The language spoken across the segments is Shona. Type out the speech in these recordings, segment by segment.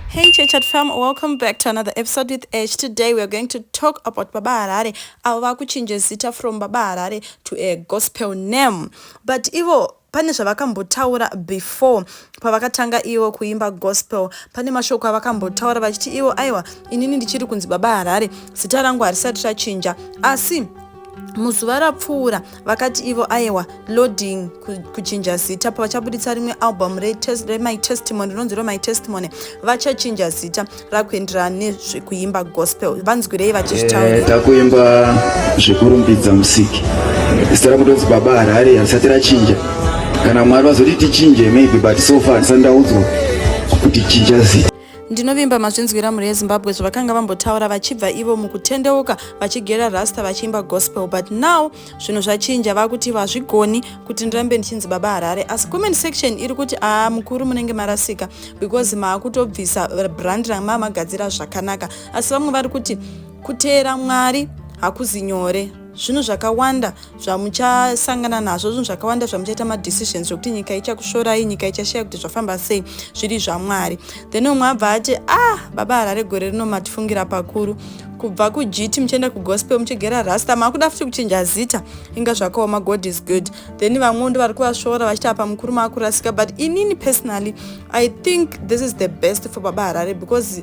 Hey Chechat fam, welcome back to another episode with Edge. Today we are going to talk about Baba Harare. Avo vakuchinja zita from Baba Harare to a gospel name. But ivo pane zvavakambotaura before pavakatanga ivo kuimba gospel pane mashoko avakambotaura vachiti ivo aiwa inini ndichiri kunzi baba harare zita rangu harisati rachinja asi muzuva rapfuura vakati ivo ayewa loading kuchinja zita pavachabuditsa rimwe album remy testimony rinonzi remy testimony vachachinja zita rakuenderana nezvekuimba gospel vanzwirei vachizvitaura eh, takuimba zvekurumbidza musiki zita rakutonzi baba harare harisati rachinja kana mwari vazoti tichinje maybe but so far tisandaudzwa kuti chinja zita Ndinovimba mazvinzwira mhuri yeZimbabwe zvavakanga vambotaura vachibva ivo mukutendeuka vachigera rasta vachiimba gospel but now zvinhu zvachinja vakuti vazvigoni kuti ndirambe ndichinzi baba Harare asi comment section iri kuti aa mukuru munenge marasika because maakutobvisa brand ramamagadzira zvakanaka asi vamwe vari kuti kuteera Mwari hakuzi nyore zvinhu zvakawanda zvamuchasangana nazvo zvinhu zvakawanda zvamuchaita madecisions zvekuti nyika ichakushorai nyika ichashaya kuti zvafamba sei zviri zvamwari then umwe abva ati ah baba harare gore rino matifungira pakuru kubva kugiti muchienda kugospel muchigera rasta makuda futi kuchinja zita inga zvakaoma god is good then vamwe ndo vari kuvashora vachiti apa mukuru maakurasika but inini personally i think this is the best for baba harare because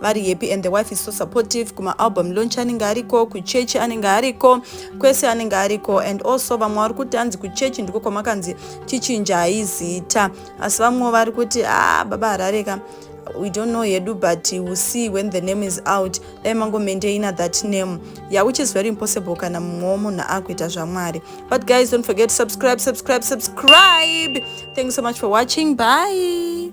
vari happy and the wife is so supportive kuma album launch anenge ariko kuchechi anenge ariko kwese anenge ariko and also vamwe vari kuti hanzi kuchechi ndiko kwamakanzi tichinjai zita asi vamwewo vari kuti a ah, baba harareka we don't know hedu but we see when the name is out dai mangomaintaina that name yeah which is very impossible kana mumwe wemunhu akuita zvamwari but guys don't forget to subscribe subscribe subscribe thank you so much for watching bye